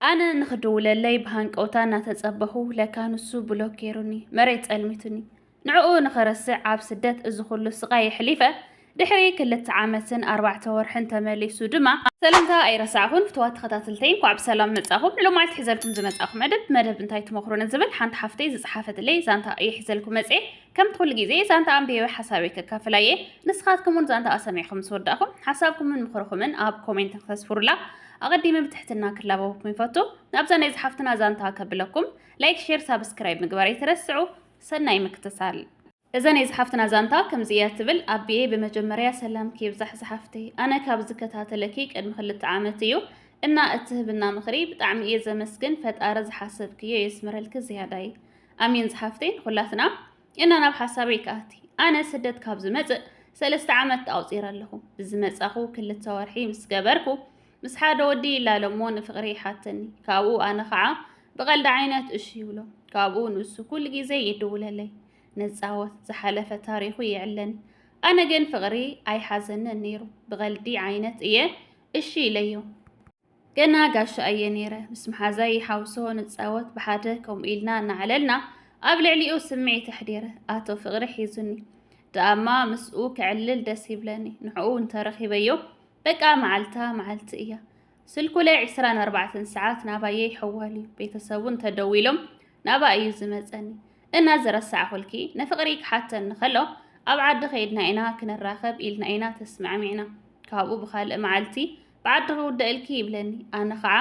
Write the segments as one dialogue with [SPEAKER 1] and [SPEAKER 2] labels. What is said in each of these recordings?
[SPEAKER 1] ኣነ ንኽድውለለይ ብሃንቀውታ እናተጸበኹ ለካ ንሱ ብሎክ ገይሩኒ መሬት ጸልሚቱኒ ንዕኡ ንኽረስዕ ኣብ ስደት እዚ ኹሉ ስቓይ የሕሊፈ ድሕሪ ክልተ ዓመትን ኣርባዕተ ወርሕን ተመሊሱ ድማ ሰላምታ ኣይረሳዕኹን ፍትዋት ተኸታተልተይ እንኳዕ ብሰላም መጻኹም ንሎ መዓልቲ ሒዘልኩም ዝመጻኹ መደብ መደብ እንታይ ትመኽሩኒ ዝብል ሓንቲ ሓፍተይ ዝጸሓፈትለይ ዛንታ እየ ሒዘልኩም መጽኤ ከምቲ ኩሉ ግዜ ዛንታ ኣንቢበ ሓሳበይ ከካፍላ እየ ንስኻትኩም እውን ዛንታ ኣሰሚዕኹም ምስ ወዳእኹም ሓሳብኩምን ምኽርኹምን ኣብ ኮሜንት ክተስፍሩላ ኣቐዲመ ብትሕትና ክላበበኩም ይፈቱ ናብዛ ናይ ዝሓፍትና ዛንታ ከብለኩም ላይክ ሼር ሳብስክራይብ ምግባር ኣይትረስዑ ሰናይ ምክትታል። እዛ ናይ ዝሓፍትና ዛንታ ከምዚ እያ ትብል ኣቢየ ብመጀመርያ ሰላምኪ ይብዛሕ ዝሓፍተይ ኣነ ካብ ዝከታተለኪ ቅድሚ ክልተ ዓመት እዩ እና እትህብና ምኽሪ ብጣዕሚ እየ ዘመስግን ፈጣሪ ዝሓሰብክዮ የስምረልኪ ዝያዳይ ኣሜን ዝሓፍተይ ንኹላትና እና ናብ ሓሳበይ ከኣቲ ኣነ ስደት ካብ ዝመጽእ ሰለስተ ዓመት ኣውፂረ ኣለኹ ብዝመጻኹ ክልተ ወርሒ ምስ ገበርኩ ምስ ሓደ ወዲ ይላለሞ ንፍቕሪ ይሓተኒ ካብኡ ኣነ ከዓ ብቐልዲ ዓይነት እሺ ይብሎ ካብኡ ንሱ ኩሉ ግዜ ይድውለለይ ንፃወት ዝሓለፈ ታሪኹ ይዕለኒ ኣነ ግን ፍቕሪ ኣይሓዘንን ነይሩ ብቐልዲ ዓይነት እየ እሺ ኢለዮ ገና ጋሻ እየ ነይረ። ምስ መሓዛይ ይሓውሶ ንጻወት ብሓደ ከምኡ ኢልና እናዕለልና ኣብ ልዕሊኡ ስምዒት ኣሕዲረ ኣቶ ፍቕሪ ሒዙኒ ደኣማ ምስኡ ክዕልል ደስ ይብለኒ ንዕኡ እንተረኺበዮ በቃ መዓልታ መዓልቲ እያ ስልኩ ላይ 24 ሰዓት ናባየ ይሕዋል እዩ ቤተሰቡ እንተደዊሎም ናባ እዩ ዝመፀኒ እና ዝረሳዕኹልኪ ንፍቕሪ ክሓተኒ ከሎ ኣብ ዓዲ ከይድና ኢና ክንራኸብ ኢልና ኢና ተስማዕሚዕና ካብኡ ብካልእ መዓልቲ ብዓዲ ክውዳእ ኢልኪ ይብለኒ ኣነ ኸዓ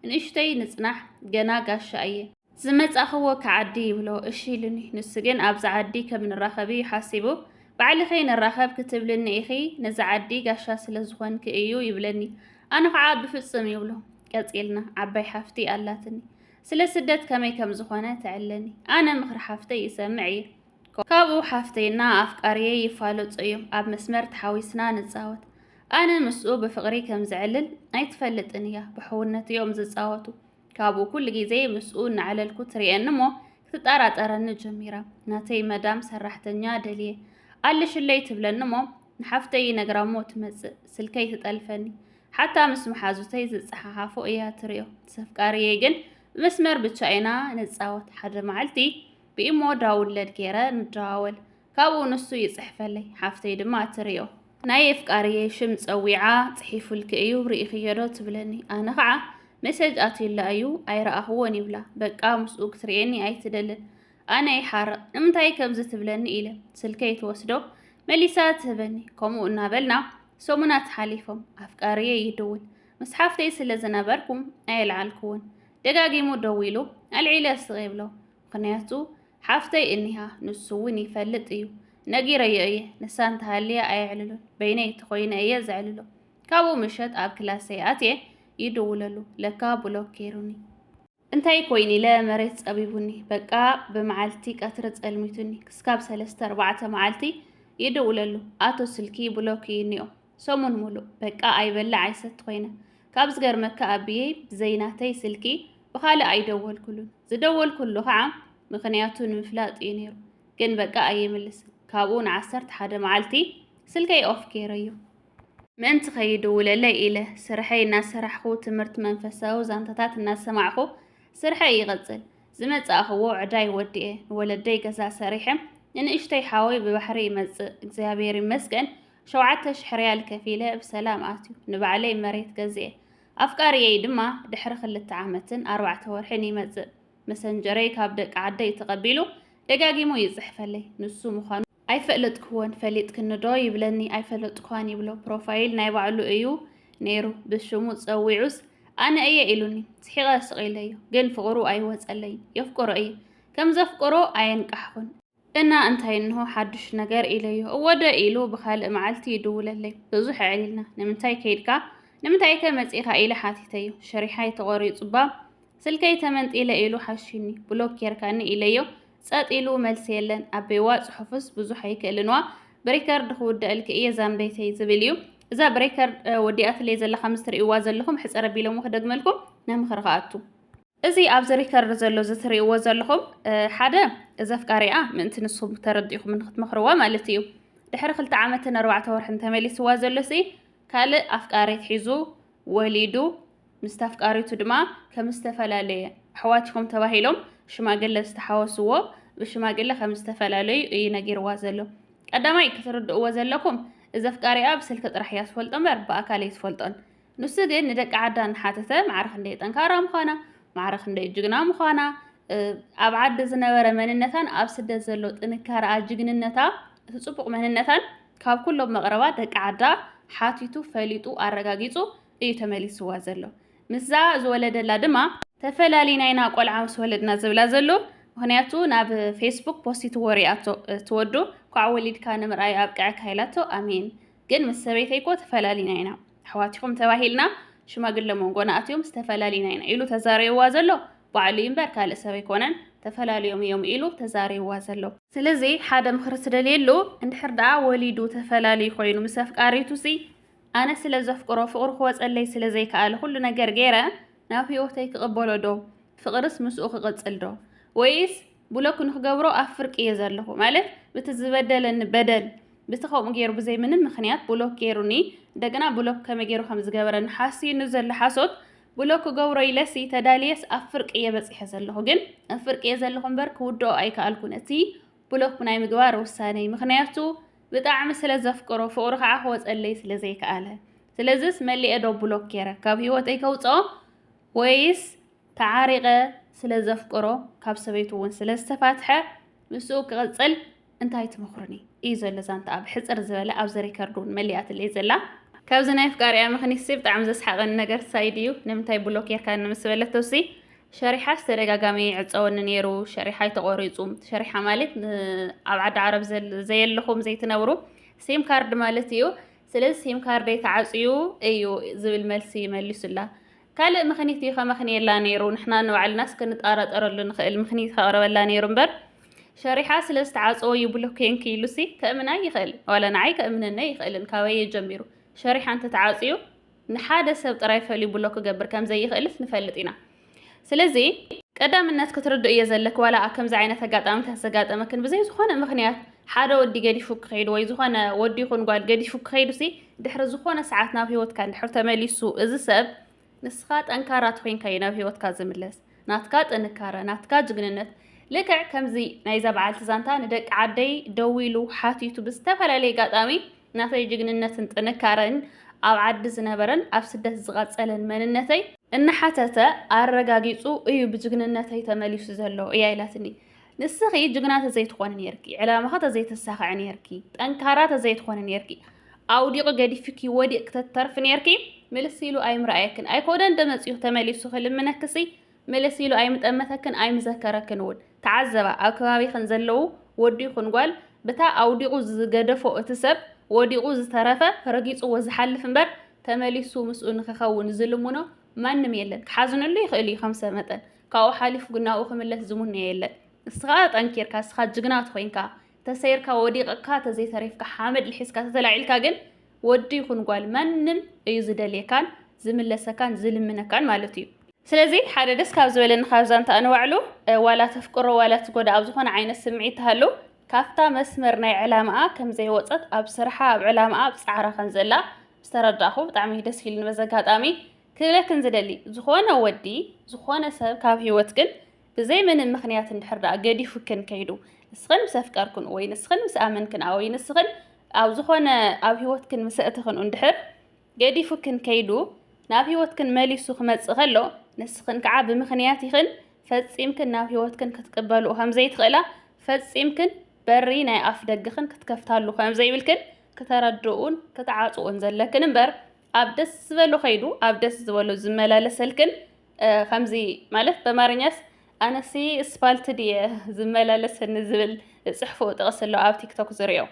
[SPEAKER 1] ንእሽተይ ንፅናሕ ገና ጋሻ እየ ዝመፃእኽዎ ክዓዲ ይብሎ እሺ ኢሉኒ ንሱ ግን ኣብዚ ዓዲ ከም ንራኸብ እዩ ሓሲቡ ባዕልኺ ንራኸብ ክትብልኒ ኢኺ ነዚ ዓዲ ጋሻ ስለ ዝኾንኪ እዩ ይብለኒ ኣነ ኸዓ ብፍፁም ይብሎ ቀፂልና ዓባይ ሓፍቲ ኣላትኒ ስለ ስደት ከመይ ከም ዝኾነ ተዕለኒ ኣነ ምኽሪ ሓፍተይ ይሰምዕ እየ ካብኡ ሓፍተይ እና ኣፍቃርየይ ይፋለጹ እዮም ኣብ መስመር ተሓዊስና ንጻወት ኣነ ምስኡ ብፍቅሪ ከም ዝዕልል ኣይትፈልጥን እያ ብሕውነት እዮም ዝጻወቱ ካብኡ ኩሉ ግዜ ምስኡ እናዕለልኩ ትሪኤኒ እሞ ክትጠራጠረኒ ጀሚራ ናተይ መዳም ሰራሕተኛ ደልየ ኣለሽለይ ትብለኒ እሞ ንሓፍተይ ይነግራ እሞ ትመጽእ ስልከይ ትጠልፈኒ ሓታ ምስ መሓዙተይ ዝጸሓሓፎ እያ ትሪኦ ሰፍቃርየይ ግን ብመስመር ብቻ ኢና ንጻወት ሓደ መዓልቲ ብኢሞ ዳውንለድ ገይረ ንደዋወል ካብኡ ንሱ ይጽሕፈለይ ሓፍተይ ድማ ትርዮ ናይ የፍቃርየይ ሽም ጸዊዓ ጽሒፉልኪ እዩ ርኢኽዮዶ ትብለኒ ኣነ ከዓ መሰጅ ኣትዩላ እዩ ኣይረኣኽዎን ይብላ በቃ ምስኡ ክትርእየኒ ኣይትደልን ኣነ ይሓርቕ ንምንታይ ከምዚ ትብለኒ ኢለ ስልከይ ትወስዶ መሊሳ ትህበኒ ከምኡ እናበልና ሰሙናት ሓሊፎም ኣፍቃርየይ ይድውል ምስ ሓፍተይ ስለ ዝነበርኩም ኣየልዓልክዎን ደጋጊሙ ደዊሉ ኣልዒለ ስቕ የብሎ ምኽንያቱ ሓፍተይ እኒሃ ንሱ እውን ይፈልጥ እዩ ነጊረዮ እየ ንሳ እንተሃልያ ኣየዕልሉን በይነይ ተኾይነ እየ ዘዕልሎ ካብኡ ምሸት ኣብ ክላሰይ ኣትየ ይድውለሉ ለካ ብሎክ ገይሩኒ እንታይ ኮይኑ ኢለ መሬት ጸቢቡኒ በቃ ብመዓልቲ ቀትሪ ጸልሚቱኒ ክስካብ ሰለስተ ኣርባዕተ መዓልቲ ይድውለሉ ኣቶ ስልኪ ብሎክ እዩ እኒኦ ሰሙን ሙሉእ በቃ ኣይበልዕ ኣይሰቲ ኮይነ። ካብ ዝገርመካ ኣቢየይ ብዘይናተይ ስልኪ ብኻልእ ኣይደወልኩሉን። ዝደወልኩሉ ከዓ ምኽንያቱ ንምፍላጥ እዩ ነይሩ። ግን በቃ ኣይምልስን። ካብኡ ንዓሰርተ ሓደ መዓልቲ ስልከይ ኦፍ ገይረዮ። ምእንቲ ከይድውለለይ ኢለ ስርሐይ እናሰራሕኹ ትምህርቲ መንፈሳዊ ዛንታታት እናሰማዕኹ ስርሐይ ይቕፅል። ዝመፃእኹዎ ዕዳይ ወዲኤ ንወለደይ ገዛ ሰሪሐ ንንእሽተይ ሓወይ ብባሕሪ ይመፅእ እግዚኣብሔር ይመስገን ሸውዓተ ሽሕ ርያል ከፊለ ብሰላም ኣትዩ። ንባዕለይ መሬት ገዚኤ። ኣፍቃሪየይ ድማ ድሕሪ ክልተ ዓመትን ኣርባዕተ ወርሕን ይመጽእ። መሰንጀረይ ካብ ደቂ ዓደይ ተቐቢሉ ደጋጊሙ ይጽሕፈለይ። ንሱ ምዃኑ ኣይፈለጥክዎን፣ ፈሊጥክኒዶ ይብለኒ፣ ኣይፈለጥክዋን ይብሎ። ፕሮፋይል ናይ ባዕሉ እዩ ነይሩ። ብሽሙ ጸዊዑስ ኣነ እየ ኢሉኒ። ስሒቐ ስቕ ኢለዮ። ግን ፍቕሩ ኣይወጸለይን። የፍቅሮ እየ። ከም ዘፍቅሮ ኣየንቃሕኹን። እና እንታይ እንሆ ሓዱሽ ነገር ኢለዮ። እወ ዶ ኢሉ ብኻልእ መዓልቲ ይድውለለይ። ብዙሕ ኣዕሊልና። ንምንታይ ከይድካ? ንምንታይከ መጺእኻ? ኢለ ሓቲተዮ። ሽሪሓይ ተቖሪጹ'ባ ስልከይ ተመንጢለ ኢሉ ሓሽዩኒ። ብሎክ ጌርካኒ ኢለዮ። ጸጥ ኢሉ መልሲ የለን። ኣቤዋ ጽሑፍስ ብዙሕ ኣይክእልን'ዋ ብሪከርድ ክውደኣልኪ እየ ዛምበይተይ ዝብል እዩ። እዛ ብሪከርድ ወዲኣትለይ ዘላ ከምዚ ትርእይዋ ዘለኹም ሕጽር ኣቢለሞ ክደግመልኩም ናብ ምኽሪ ክኣቱ። እዚ ኣብዚ ሪከርድ ዘሎ እዚ ትሪእዎ ዘለኹም ሓደ እዚ ኣፍቃሪኣ ምእንቲ ንሱ ተረዲእኹም ንክትመኽርዋ ማለት እዩ ድሕሪ ክልተ ዓመትን ኣርባዕተ ወርሕን ተመሊስዋ ዘሎሲ ካልእ ኣፍቃሪት ሒዙ ወሊዱ ምስቲ ኣፍቃሪቱ ድማ ከም ዝተፈላለየ ኣሕዋት ኢኹም ተባሂሎም ሽማግለ ዝተሓወስዎ ብሽማግለ ከም ዝተፈላለዩ እዩ ነጊርዋ ዘሎ ቀዳማይ ክትርድእዎ ዘለኩም እዚ ኣፍቃሪኣ ብስልኪ ጥራሕ እያ ትፈልጦ እምበር ብኣካል ኣይትፈልጦን ንሱ ግን ንደቂ ዓዳ እናሓተተ ማዕረ ክንደይ ጠንካራ ምዃና ማዕረ ክንደይ ጅግና ምዃና ኣብ ዓዲ ዝነበረ መንነታን ኣብ ስደት ዘሎ ጥንካረኣ ጅግንነታ እቲ ጽቡቕ መንነታን ካብ ኩሎም መቕረባ ደቂ ዓዳ ሓቲቱ ፈሊጡ ኣረጋጊጹ እዩ ተመሊስዋ ዘሎ ምስዛ ዝወለደላ ድማ ተፈላሊና ኢና ቆልዓ ምስ ወለድና ዝብላ ዘሎ ምክንያቱ ናብ ፌስቡክ ፖስት ወሪኣቶ ትወዱ ኳዕ ወሊድካ ንምርኣይ ኣብቅዐካ ኢላቶ ኣሜን ግን ምስ ሰበይተይኮ ተፈላሊና ኢና ኣሕዋቲኹም ተባሂልና ሽማግለ መንጎና ኣትዮም ዝተፈላለዩና ኢና ኢሉ ተዛሪብዋ ዘሎ ባዕሉ እዩ እምበር ካልእ ሰብ ኣይኮነን ተፈላለዮም እዮም ኢሉ ተዛሪብዋ ዘሎ ስለዚ ሓደ ምኽሪ ትደልየሉ እንድሕር ደኣ ወሊዱ ተፈላለዩ ኮይኑ ምስ ኣፍቃሪቱ ሲ ኣነ ስለ ዘፍቅሮ ፍቕሩ ክወፀለይ ስለ ዘይከኣለ ኩሉ ነገር ገይረ ናብ ህይወተይ ክቕበሎ ዶ ፍቕርስ ምስኡ ክቕፅል ዶ ወይስ ብሎክ ንክገብሮ ኣብ ፍርቂ እየ ዘለኹ ማለት ብቲ ዝበደለኒ በደል ብቲ ከምኡ ገይሩ ብዘይ ምንም ምክንያት ብሎክ ገይሩኒ እንደገና ብሎክ ከመይ ገይሩ ከም ዝገበረኒ ሓስዩኒ ዘሎ ሓሶት ብሎክ ክገብሮ ኢለሲ ተዳልየስ ኣብ ፍርቂ እየ በፂሐ ዘለኹ ግን ኣብ ፍርቂ እየ ዘለኹ እምበር ክውድኦ ኣይከኣልኩን እቲ ብሎክ ናይ ምግባር ውሳነይ ምክንያቱ ብጣዕሚ ስለ ዘፍቅሮ ፍቅሩ ከዓ ክወፀለይ ስለ ዘይከኣለ ስለዚስ መሊኤ ዶ ብሎክ ገይረ ካብ ህይወተይ ከውፅኦ ወይስ ተዓሪቐ ስለ ዘፍቅሮ ካብ ሰበይቱ እውን ስለ ዝተፋትሐ ምስኡ ክቕጽል እንታይ ትመኽሩኒ እዩ ዘሎ ዛንታኣ ብሕጽር ዝበለ ኣብዚ ሪከርድ እውን መሊኣትለይ ዘላ ካብዚ ናይ ኣፍቃሪኣ ምኽኒትሲ ብጣዕሚ ዘስሓቐኒ ነገር ሳይድ እዩ ንምንታይ ብሎክ ጌርካኒ ምስ በለቶሲ ሸሪሓስ ተደጋጋሚ ይዕጸወኒ ነይሩ ሸሪሓ ኣይተቖሪጹ ሸሪሓ ማለት ኣብ ዓዲ ዓረብ ዘየለኹም ዘይትነብሩ ሲም ካርድ ማለት እዩ ስለዚ ሲም ካርደይ ተዓጽዩ እዩ ዝብል መልሲ መሊሱላ። ካልእ ምኽኒት እዩ ከመኽንየላ ነይሩ፣ ንሕና ንባዕልናስ ክንጠራጠረሉ ንኽእል ምኽኒት ከቕርበላ ነይሩ እምበር፣ ሸሪሓ ስለ ዝተዓጸወ እዩ ብሎኬንኪ ኢሉሲ ከእምና ኣይኽእል፣ ዋላ ንዓይ ከእምነኒ ኣይኽእልን፣ ካበይ እዩ ጀሚሩ? ሸሪሓ እንተተዓጽዩ ንሓደ ሰብ ጥራይ ፈልዩ ብሎክ ክገብር ከም ዘይኽእልስ ንፈልጥ ኢና። ስለዚ ቀዳምነት ክትርድእዮ ዘለኪ ዋላ ከምዚ ዓይነት ኣጋጣሚታት ዘጋጠመክን ብዘይ ዝኾነ ምክንያት ሓደ ወዲ ገዲፉ ክኸይድ ወይ ዝኾነ ወዲ ይኹን ጓል ገዲፉ ክኸይዱሲ ድሕሪ ዝኾነ ሰዓት ናብ ሂወትካ እንድሕር ተመሊሱ እዚ ሰብ ንስኻ ጠንካራ ትኾይንካ እዩ ናብ ሂወትካ ዝምለስ ናትካ ጥንካረ ናትካ ጅግንነት ልክዕ ከምዚ ናይዛ በዓልቲ ዛንታ ንደቂ ዓደይ ደዊሉ ሓቲቱ ብዝተፈላለየ ኣጋጣሚ ናተይ ጅግንነትን ጥንካረን ኣብ ዓዲ ዝነበረን ኣብ ስደት ዝቐጸለን መንነተይ እናሓተተ ኣረጋጊጹ እዩ ብጅግንነተይ ተመሊሱ ዘሎ እያ ኢላትኒ። ንስኺ ጅግና ተዘይትኾኒ ነርኪ፣ ዕላማኺ ተዘይተሳኽዐ ነርኪ፣ ጠንካራ ተዘይትኾኒ ነርኪ፣ ኣውዲቑ ገዲፍኪ ወዲቕ ክተተርፊ ነርኪ፣ ምልስ ኢሉ ኣይምርኣየክን ኣይኮነን ደመጽኡ ተመሊሱ ክልምነክሲ ምልስ ኢሉ ኣይምጠመተክን ኣይምዘከረክን እውን። ተዓዘባ፣ ኣብ ከባቢኽን ዘለዉ ወዲ ይኹን ጓል፣ ብታ ኣውዲቑ ዝገደፎ እቲ ሰብ፣ ወዲቑ ዝተረፈ፣ ረጊጹዎ ዝሓልፍ እምበር፣ ተመሊሱ ምስኡ ንክኸውን ዝልምኖ ማንም የለን። ክሓዝነሉ ይኽእል እዩ ከም ሰብ መጠን፣ ካብኡ ሓሊፉ ግን ናብኡ ክምለስ ዝሙነዮ የለን። እስኻ ጠንኪርካ፣ እስኻ ጅግና ተኾይንካ፣ ተሰይርካ ወዲቕካ ተዘይተሪፍካ፣ ሓመድ ልሒስካ ተተላዒልካ ግን፣ ወዲ ይኹን ጓል ማንም እዩ ዝደልየካን ዝምለሰካን ዝልምነካን ማለት እዩ። ስለዚ ሓደ ደስ ካብ ዝበለኒ ካብ ዛንታኣ ንባዕሉ ዋላ ተፍቅሮ ዋላ ትጎዳ ኣብ ዝኾነ ዓይነት ስምዒት ትሃሉ ካብታ መስመር ናይ ዕላማኣ ከም ዘይወፀት ኣብ ስርሓ ኣብ ዕላማኣ ኣብ ፃዕራ ከም ዘላ ዝተረዳእኹ ብጣዕሚ ደስ ኢሉኒ በዚ ኣጋጣሚ ክብለክን ዝደሊ ዝኾነ ወዲ ዝኾነ ሰብ ካብ ህይወት ግን ብዘይ ምንም ምኽንያት እንድሕር ደኣ ገዲፉክን ከይዱ ንስኽን ምስ ኣፍቀርክን ወይ ንስኽን ምስ ኣመንክን ወይ ንስኽን ኣብ ዝኾነ ኣብ ህይወትክን ምስ ኣእትኽን እንድሕር ገዲፉክን ከይዱ ናብ ህይወትክን መሊሱ ክመጽእ ከሎ ንስኽን ከዓ ብምኽንያት ኢኽን ፈጺምክን ናብ ህይወትክን ክትቅበልኡ ከም ዘይትኽእላ ፈጺምክን በሪ ናይ ኣፍ ደገኽን ክትከፍታሉ ከም ዘይብልክን ክተረድኡን ክትዓጽኡን ዘለክን እምበር ኣብ ደስ ዝበሎ ከይዱ ኣብ ደስ ዝበሎ ዝመላለሰልክን ከምዚ ማለት በማርኛስ ኣነሲ እስፓልት ድየ ዝመላለሰኒ ዝብል ዝፅሕፍኡ ጥቕሲ ኣሎ ኣብ ቲክቶክ ዝሪኦ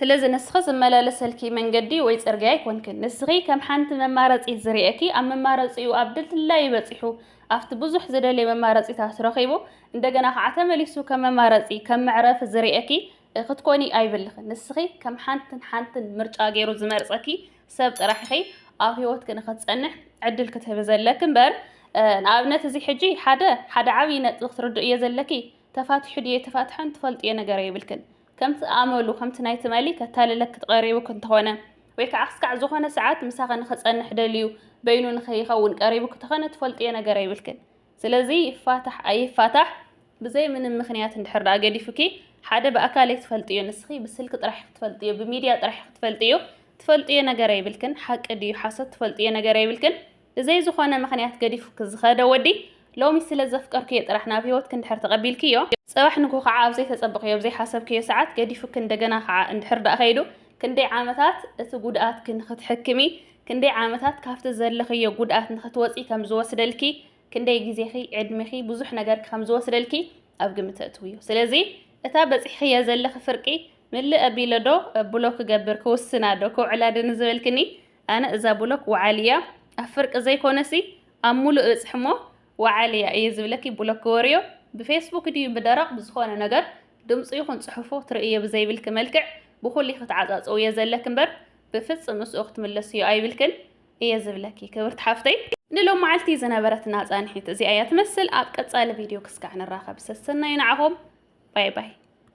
[SPEAKER 1] ስለዚ ንስኺ ዝመላለሰልኪ መንገዲ ወይ ፅርግያ ኣይኮንክን ንስኺ ከም ሓንቲ መማረፂት ዝርኤኪ ኣብ መማረፂኡ ኣብ ድልድላይ በፂሑ ኣብቲ ብዙሕ ዝደልየ መማረፂታት ረኺቡ እንደገና ከዓ ተመሊሱ ከም መማረፂ ከም መዕረፊ ዝርኤኪ ክትኮኒ ኣይብልኽን ንስኺ ከም ሓንትን ሓንትን ምርጫ ገይሩ ዝመርፀኪ ሰብ ጥራሕ ኢኺ ኣብ ሂወትኪ ንኽትጸንሕ ዕድል ክትህቢ ዘለኪ እምበር ንኣብነት እዚ ሕጂ ሓደ ሓደ ዓብዪ ነጥቢ ክትርድእዮ ዘለኪ ተፋቲሑ ድዩ ኣይተፋትሐን ትፈልጥዮ ነገር የብልክን ከምቲ ኣመሉ ከምቲ ናይ ትማሊ ከታልለኪ ትቐሪቡኪ እንተኾነ ወይ ከዓ ክስካዕ ዝኾነ ሰዓት ምሳኺ ንኽጸንሕ ደልዩ በይኑ ንኸይኸውን ቀሪቡኪ እንተኾነ ትፈልጥዮ ነገር የብልክን ስለዚ ይፋታሕ ኣይፋታሕ ብዘይ ምንም ምክንያት እንድሕር ደኣ ገዲፉኪ ሓደ ብኣካል ኣይትፈልጥዮ ንስኺ ብስልኪ ጥራሕ ክትፈልጥዮ ብሚድያ ጥራሕ ክትፈልጥዮ ትፈልጥዮ ነገር ኣይብልክን ሓቂ ድዩ ሓሶት ትፈልጥዮ ነገር ኣይብልክን ብዘይ ዝኾነ ምክንያት ገዲፉኪ ዝኸደ ወዲ ሎሚ ስለ ዘፍቀርክዮ ጥራሕ ናብ ሂወትኪ እንድሕር ተቐቢልክዮ ጽባሕ ንግሆ ከዓ ኣብ ዘይተጸበኽዮ ኣብ ዘይሓሰብክዮ ሰዓት ገዲፉኪ እንደገና ከዓ እንድሕር ደኣ ከይዱ ክንደይ ዓመታት እቲ ጉድኣትኪ ንኽትሕክሚ ክንደይ ዓመታት ካብቲ ዘለኽዮ ጉድኣት ንኽትወጺ ከም ዝወስደልኪ፣ ክንደይ ግዜኺ፣ ዕድሜኺ፣ ብዙሕ ነገርኪ ከም ዝወስደልኪ ኣብ ግምት ኣእትውዮ። ስለዚ እታ በጺሕኽያ ዘለኺ ፍርቂ ምልእ ኣቢለዶ ብሎክ ክገብር፣ ክውስናዶ፣ ከውዕላዶ ንዝበልክኒ፣ ኣነ እዛ ብሎክ ወዓል'ያ፣ ኣብ ፍርቂ ዘይኮነሲ ኣብ ምሉእ እበጽሕ'ሞ ወዓል'ያ እየ ዝብለኪ ብሎክ ግበርዮ። ብፌስቡክ ድዩ ብደረቕ ብዝኾነ ነገር ድምጹ ይኹን ጽሑፉ ክትርእይዮ ብዘይብልኪ መልክዕ ብኹሉ ኢኺ ትዓጻጽውዮ ዘለኪ'ምበር ብፍጹም ምስኡ ክትምለስዮ ኣይብልክን እየ ዝብለኪ ክብርቲ ሓፍተይ። ንሎም መዓልቲ ዝነበረትና ጻንሒት እዚኣ እያ ትመስል። ኣብ ቀጻሊ ቪድዮ ክስካዕ ንራኸብ። ሰሰናዩ ንዓኹም። ባይ ባይ።